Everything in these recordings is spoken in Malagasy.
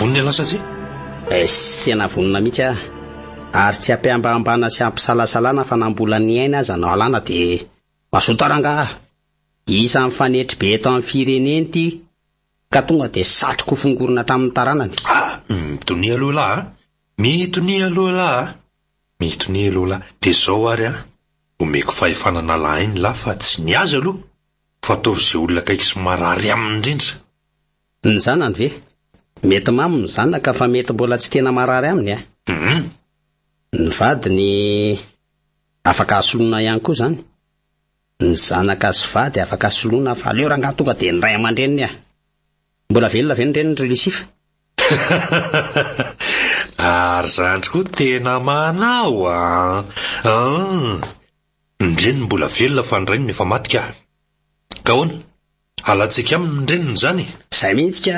Vonona lasa tsia? Es, tena vonona mihitsy ah. Ary tsy ampihambahambana sy ampisalasalana fa na mbola ny aina aza no alana dia mazoto rangah ah. Isan'ny fanetry be eto amin'ny firenena ity ka tonga dia satriko ho fongorina hatramin'ny taranany. Ah, mitonia aloha elah ah. Mitonia aloha elah ah. Mitonia aloha elah. Dia izao ary ah. Omeko fahefana hanala aina elah fa tsy ny azy aloha fa ataovy izay olona akaiky sy marary aminy indrindra. Ny zanany ve? Mety mamo ny zanaka fa mety mbola tsy tena marary aminy eh. Humm. Ny vadiny afaka asoloina ihany koa izany. Ny zanaka sy vady afaka asoloina fa aleo rangaha tonga dia ny ray aman-dreniny eh. Mbola velona ve ny reniny ry Lucifa? Ary zandry koa tena manao an! An! Ny reniny mbola velona fa ny rainy no efa maty kah! Ka ahoana? Alantsika aminy ny reniny izany e! Izay mihitsy ka!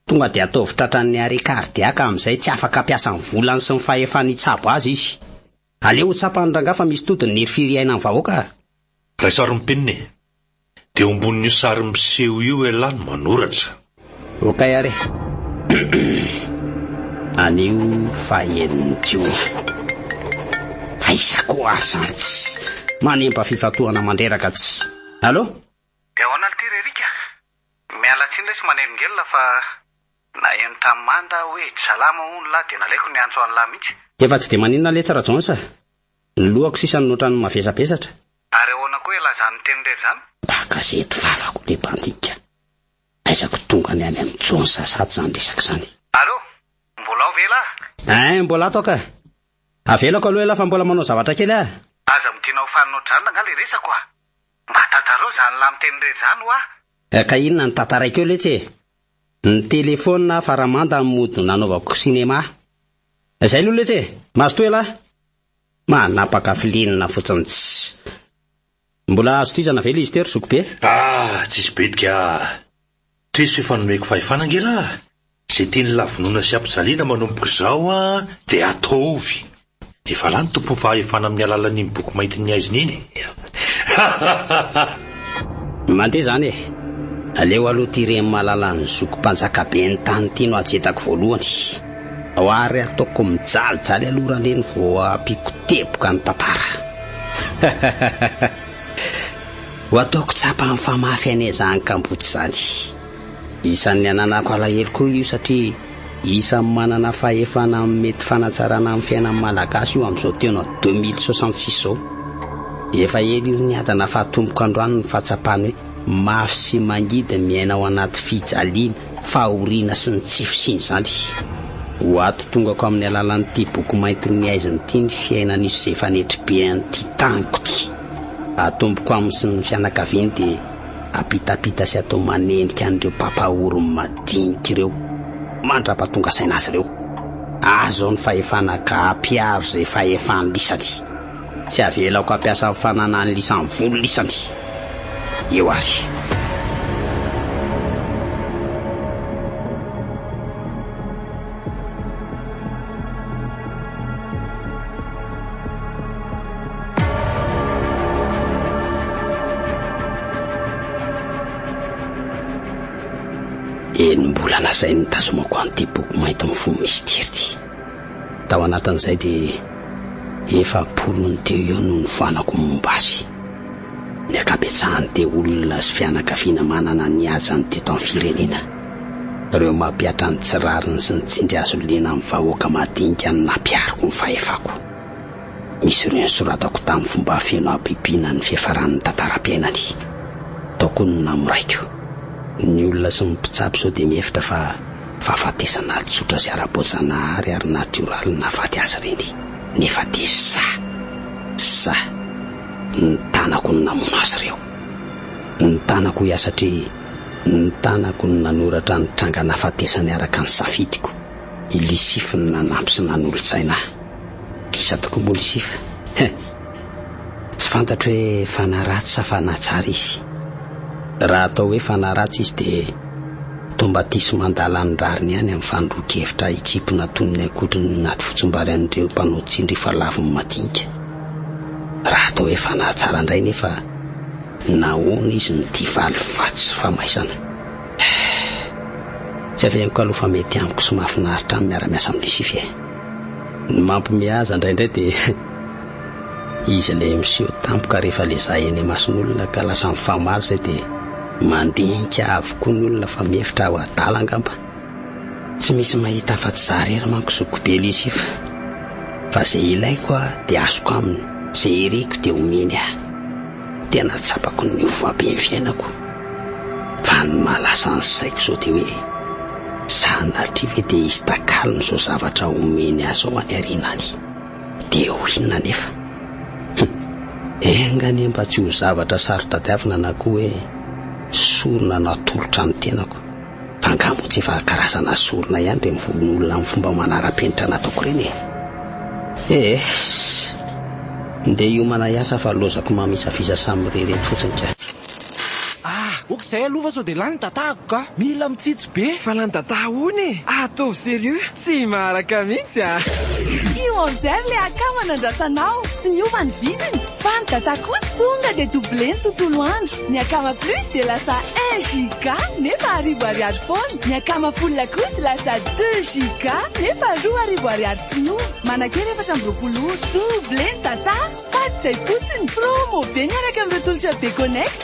Tonga dia ataovy tratran'ny arrêt cardiaque amin'izay tsy afaka hampiasa ny volany sy ny fahefany hitsabo azy izy. Aleo ho tsapan'ny rangahy fa misy todiny ny hery firy iainan'ny vahoaka a! Ray sarin'ny penina e! Dia eo ambonin'io sary miseho io elah no manoratra. Ok ary anio fahen'ny jiona fa iza koa ary zany tsy manempa fifantohana mandreraka tsy allo? Dia ahoana ry ty ry Erika? Miala tsiny re sy manelingelina fa naheno tamin'i Manda aho hoe dry salama hono lahy dia nalaiko niantso an'i lahy mihitsy. Efa tsy dia maninona letsy Rajoons a! Ny lohako sisa no otrany mavesabesatra. Ary ahoana koa ilazany ny teniny rery zany? Mba gazety vavako le bandika. Aiza ko tonga ny any amin'ny Jones sasat zany resaka zany. Allo! Mbola ao ve elah? Hein, mbola ato aho ka. Avelako aloha elah fa mbola manao zavatra kely aho. Aza midina ho faninao dranona nga le resako a! Mba tantarao zany lahy miteny re zany hoa! Ka inona no tantaraiko eo letsy e! Ny téléphone aho fa ramanda amin'ny mody nanaovako cinéma. Zay aloha letsy e! Mazotoa elah! Manapaka filenina fotsiny tsy. Mbola azo tohizana ve Lister zokibe? Ah! Tsisy bitika ah! Tris efa nomeko fahefana angelah! Ze tian'ny lavonona sy ampijaliana manomboka izao an de ataovy! Efa lany tompony fahefana amin'ny alalan'iny boky maintin'ny haizina iny e! Mandeha zany e! Aleo aloha ty reny malala an'ny zoky mpanjakaben'ny tany ty no ajetako voalohany! Ao ary ataoko mijalijaly aloha raleny vao ampiako teboka ny tantara! Ho ataoko tsapa amin'ny famafy an'i Ezan kamboty izany. Isan'ny ananako alahelo koa io satria isan'ny manana fahefana amin'ny mety fanatsarana ny fiainan'ny Malagasy io amin'izao fotoana 2066 izao. Efa ela io niadana fa atomboko androany ny fahatsapana hoe mafy sy mangidy ny miaina ao anaty fijaliana. fahoriana sy ny tsy fisian'izany. Ho ato tongako amin'ny alalan'ity boky maintin'ny aizina ity ny fiainan'io sy izay fanetry be an'ity taniko ity. Atomboko aminy sy ny fianakaviany dia apitapita sy atao manenjika an'ireo mpampahory madinika ireo mandrapatonga saina azy ireo. Azo ao ny fahefana ka ampiaro izay fahefan'lisany. Tsy avelako hampiasa ny fananany lisany volo lisany eo ary. Enim-bolana izay nitazomako an'ity boky mainty mifono misitery ity. Tao anatin'izay dia efa am-polony teo eo no nifoanako momba azy. Ny ankabetsahany dia olona sy fianakaviana manana ny hajany teto amin'ny firenena. Ireo mampihatra ny tsy rariny sy ny tsindry azo liana amin'ny vahoaka madinika no nampihariko ny fahefako. Misy ireo nosoratako tamin'ny fomba feno habibiana ny fiafaran'ny tantaram-piainany. Tao koa ny namoraiko. Ny olona sy ny mpitsabo izao dia mihevitra fa Fahafatesana ara-tsotra sy ara-boajanahary ary natioraly no nahafaty azy ireny, nefa dia sahy, sahy, ny tanako no namono azy ireo. Ny tanako hoy aho satria ny tanako no nanoratra ny tranga nahafatesany araka ny safidiko. I Lisify no nanampy sy nanolotsaina ahy. Gisa tokombolo sifa he! Tsy fantatro hoe fanahy ratsy sa fanahy tsara izy. Raha atao hoe fanahy ratsy izy dia tombatisme an-dalan'ny rariny ihany amin'ny fanondroan-kevitra hitsimpona tonony ankoatry ny naty fotsimbary an'ireo mpanao tsindry efa lavon'ny madinika. Raha atao hoe fanahy tsara indray nefa nahoana izy no tia valifaty sy famaizana? He! Tsy avehiko aloha fa mety amiko sy mahafinaritra ahy ny miara-miasa amin'i Lucifer. Ny mampime aza indraindray dia izy ilay miseho tampoka rehefa lezay eny imason'olona ka lasa mifamaly izay dia mandinika avokoa ny olona fa mihevitra ho adala angamba. Tsy misy mahita afa-tsy izaho irery manko zoky be Lucie fa fa izay ilaiko aho dia azoko aminy, izay iriko dia omeny ahy. Tena tsapako niova be ny fiainako fa ny maha lasa ny saiko izao dia hoe sanatria ve dia hisy takalony izao zavatra omeny ahy izao any aoriana any? Dia ho inona anefa? Hum, enga anie mba tsy ho zavatra saro-tadiavina na koa hoe sorona natolotra ny tenako. Angaha moa tsy efa karazana sorona ihany ireny volon'olona amin'ny fomba manara-penitra nataoko ireny e? Eehh! Ndeha hiomana hiasa fa lozako mamisaviza samy mirery eto fotsiny ka! Ah! Ok zay aloha fa sao dia lany ny dadaako ka! Mila mitsitsy be! Fa lany dadaha hono e! Ataovy serieux! Tsy maharaka mihitsy a! Io order le akama nandrasanao, tsy niova ny vidiny fa ny data kosa tonga dia double ny tontolo andro, ny akama plus dia lasa un giga nefa arivo ariary foana, ny akama full kosa lasa deux giga nefa roa arivo ariary tsy miova, manakera efatra amby roapolo ora, double ny data, fa tsy izay fotsiny, promo be miaraka amin'ireo tolotra be connect.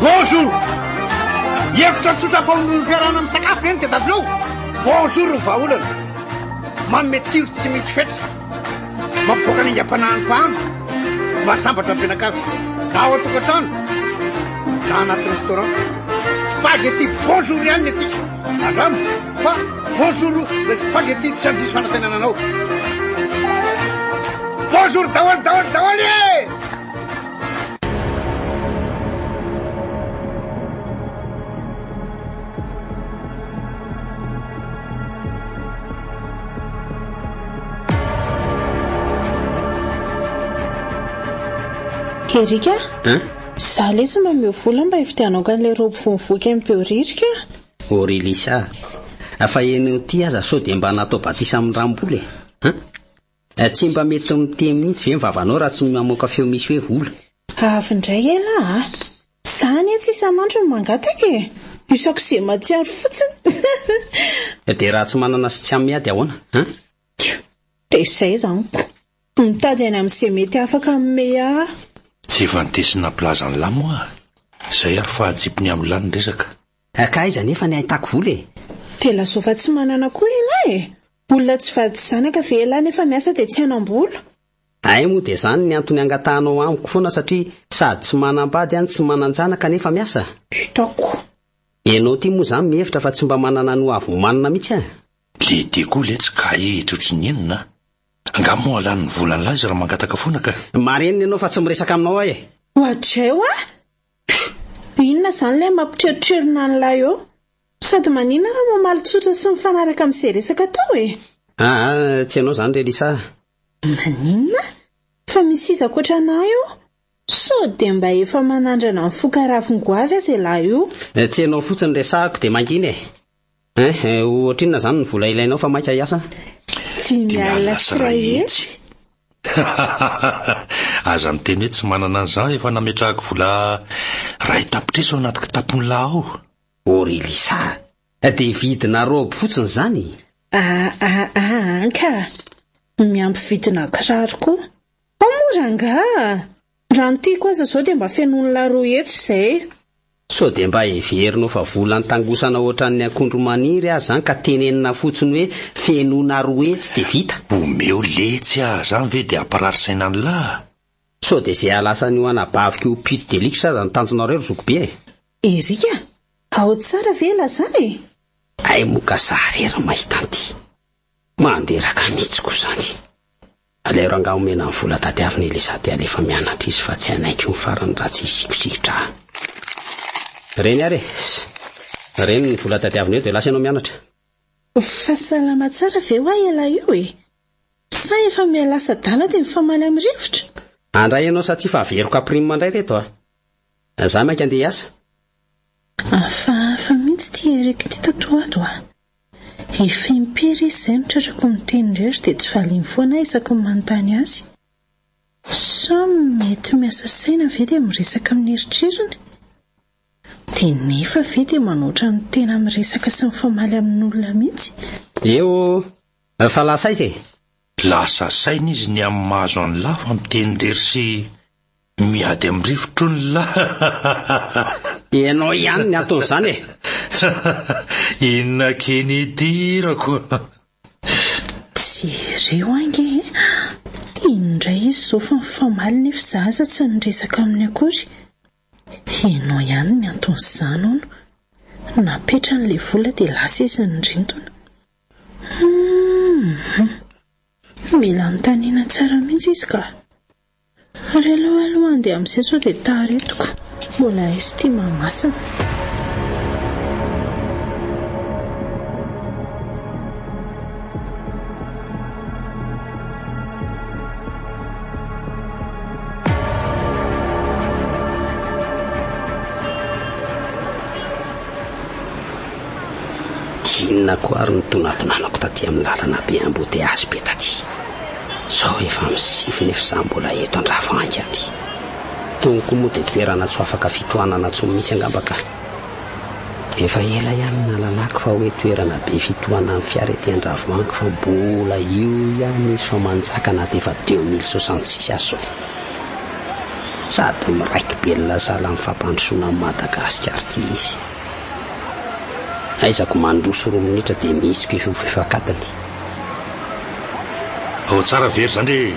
Bonjour! Hevitra tsotra faonoan'ny fiarahana misakafo ve ny tadiavinao? Bonjour ny vahaolana! Manome tsiro tsy misy fetra, mampivoaka ny aingam-panahin'ny mpahano, mahasambatra ny mpianakavy, na ao an-tokantrano, na anaty restaurant. Spaghetti bonjour ihany ny antsika. Andramo fa bonjour le spaghetti tsy handiso fanantenana anao. Bonjour daholo daholo daholo e! Erika a? Za lesy mba meo vola mba hividianao kan'ilay robe vao mivoaka eny Behoririka. O ry Lisa, afa eny ho ty aza sao dia mba natao batisa amin'ny rambolo e. Tsy mba mety miteny mihitsy ve ny vavanao raha tsy ny mamoaka feo misy hoe vola? Avy indray ela a! Za anie tsy isan'andro no mangataka e! Isako izay mahatsiaro fotsiny! Dia raha tsy manana sy tsy amin miady ahoana an? Tjo! Dia izay izany ko! Mitady any amin izay mety afaka hanome ahy! Tsy efa nitesy nampilaza an'lah moa a! Izay ary fa atsipy ny amin'lah ny resaka! Ankaiza anefa ny ahitako vola e? Tena soa fa tsy manana koa ialahy e! Olona tsy vady zanaka ve ialahy nefa miasa dia tsy hanam-bola? Hay moa dia izany ny antony angatahanao amiko foana satria sady tsy manam-bady any tsy manan-janaka nefa miasa? Hitako. Ianao ity moa izany mihevitra fa tsy mba manana ny ho avy omanina mihitsy an! Le dia koa letsy ka hehetra ohatry ny enona an! Angaha moa halany ny volan'lah izy raha mangataka foana ka? Marenina ianao fa tsy miresaka aminao aho e! Ohatrizay hoa! Inona izany ilay mampitrerotrerona an'ilay eo? Sady maninona raha mamaly tsotra sy mifanaraka amin'izay resaka atao e? Aa, tsy ianao izany re Lisa a! Maninona? Fa misy iza ankoatra anà eo? Sao dia mba efa manandrana ny foka ravin-goavy aza ialahy io? Tsy ianao fotsiny resahako dia mangina e! Eh eh ohatrinona zany ny vola ilainao fa maika hiasa? Tsy miala sy ray hetsy. Aza miteny hoe tsy manana an'izany efa nametrahako vola ray tapitrisa ao anaty kitapon'i la ao. Oh ry Lisa, dia vidina robe fotsiny zany? Ah ah ah an ka! Miampy vidina kiraro koa. Ao moa rangah! Raha ny tiako aza zao dia mba fenoiny la roue etsy izay e. Sao dia mba heverinao fa vola nitangosana ohatran'ny akondro maniry aza zany ka tenenina fotsiny hoe fenoina roue etsy dia vita? Omeo letsy ah, zany ve dia hampirary saina ny lah? Sao dia izay hahalasa an'io anabaviko io pute de luxe aza no tanjonareo ry zokibe e? Eric a! Ao tsara ve elah zany e? Hay moa ka za rery mahita an'ity. Manderaka mihitsy koa zany. Aleoro angaha omena ny vola tadiaviny Elisa dia alefa mianatra izy fa tsy hanaiky ho farany raha tsy hisikosikitrahana. Reny ary e! Reny ny vola tadiaviny eo dia lasa ianao mianatra. Fa salama tsara ve hoa ialahy io e? Sa efa mihalasa adala dia mifamaly amin'ny rivotra? Andray ianao sa tsia fa averiko à prime indray reto a! Za mainka andeha hiasa. Hafahafa mihitsy ity Eric ity tato ho ato a! Efa impiry izy izay no tratrako miteny irery dia tsy valiny foana aho isaky ny manontany azy. Sa mety miasa saina ve dia miresaka amin'ny eritreriny? Dia nefa ve dia manao ohatran'ny tena miresaka sy mifamaly amin'olona mihitsy? Eo eh! Fa lasa aiza e? Lasa saina izy ny amin'ny maha-azo an'i Lafo amin'ny teny irery sy. Miady amin'ny rivotr'olona. Ianao ihany ny anton'izany e! Inona key ny hidirako? Jereo ange e! Iny indray izy izao fa mifamaly nefa izaho aza tsy niresaka aminy akory. Ianao ihany ny anton'izany hono. Napetrany ilay vola dia lasa izy nirintona. Hum! Mila anontaniana tsara mihitsy izy ka! Ary aleo aloha handeha amin'izay sao dia tara etiko. Mbola hisy ity Mahamasina. Inona koa ary no toa nampiananako taty amin'ny lalana be embouteillages be taty? Zao efa am sivy nefa za mbola eto andravangy any. Tony koa moa de toerana tsy ho afaka fitohanana tsony mitsy angamba ka. Efa ela ihany nalalako fa hoe toerana be fitohanan'ny fiara ety andravoangy fa mbola io ihany izy fa manjaka na de efa deux mille soixante six aza zao. Sady miraiki belona sahala am fampandrosoana am Madagascar ty izy. Aizako mandroso roa minitra de mihitsiko efa ho fefak'atiny. Ao tsara very zany re.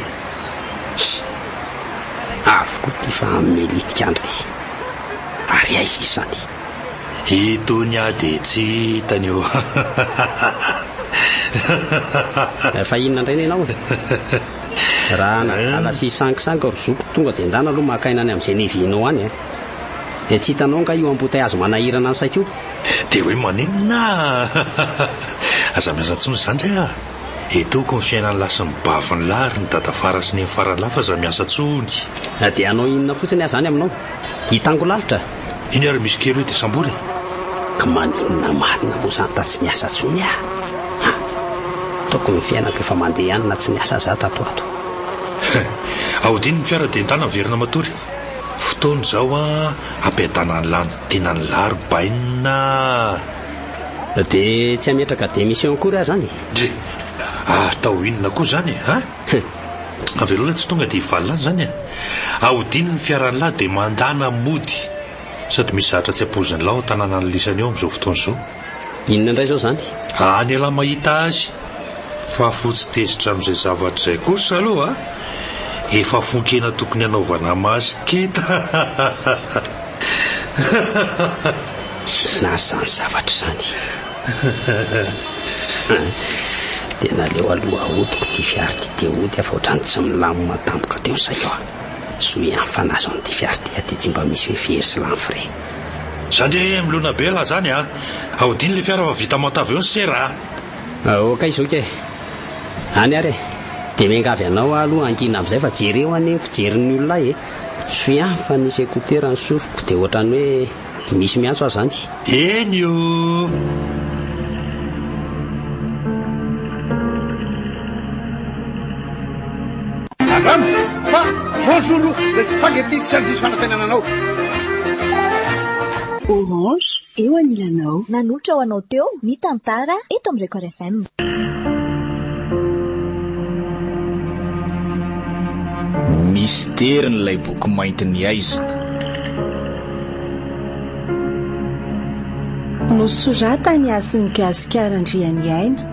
Avy koa ty fa melitika andra e. Ary aiza izany? Itony aho dia tsy hitany eo. Fa inona indray ny anao? Raha nadala eh? sy sangisangy ry zoko tonga dia ndana aloha maka aina any amin'izay nevinao any eh. Dia tsy hitanao nga io ambotayazo manahirana ny saiko io? Dia hoe maninona ah! Aza miasa intsony izany re ah! Eto ko ny fiainan'ny lahy sy ny bavy ny lahy ary ny dada fara sy neny fara ny lahy fa aza miasa intsony. Na dia hanao inona fotsiny aza any aminao. Hitango lalitra. Iny ary misy kely hoe dia sambory e! Ka maninona marina moa izany ta tsy miasa intsony ah! An! Tokony ny fiainako efa mandeha ihany na tsy niasa aza ah tato ho ato. Ahodino ny fiara dia entanina miverina matory. Fotoana izao hampiadana ny lanontenan ny laro bainina a! Dia tsy hametraka démission akory aho izany e! Dry! Atao inona koa izany e! An! Avelao ilay tsy tonga dia hivalona any izany e! Ahodino ny fiaran lahy dia mandana mody! Sady misy zahatra tsy ampoizin lahy ao an-tanàna lisany eo amin izao fotoana izao. Inona indray izao izany? Any elah mahita azy fa fotsy tezitra amin'izay zavatra izay kosa aloha efa fonkena tokony hanaovana masque kitahahahaha. Tsy nahazo izany zavatra izany. Dia naleo aloha ahodiko ity fiara ity dia hody aho fa ohatran'ny tsy milamina tampoka teo ny saiko. Soa ihany fa nahazo an'ity fiara ity aho dia tsy mba misy hoe very sy lany frais. Za nge milona be raha zany a! Ahodino le fiara fa vita manta avy eo ny sera a! Aoka izao kay! Any ary e! Dia miangavy anao aho aloha hankina amin'izay fa jereo anie ny fijerin'ny olona ahy e! Soy ihany fa nisy écouteur ny sofiko dia ohatran'ny hoe misy miantso aho zany! Eny o! Angamba. Fa bonjour loup, le spaghetti tsy handiso fanantenana anao. Orange eo anilanao. Nanolotra ho anao teo ny tantara eto amin'ny Record FM. Misterin' ilay boky mainty ny aizina. Nosoratan' i Hasin'i Gasikara Andrianiaina.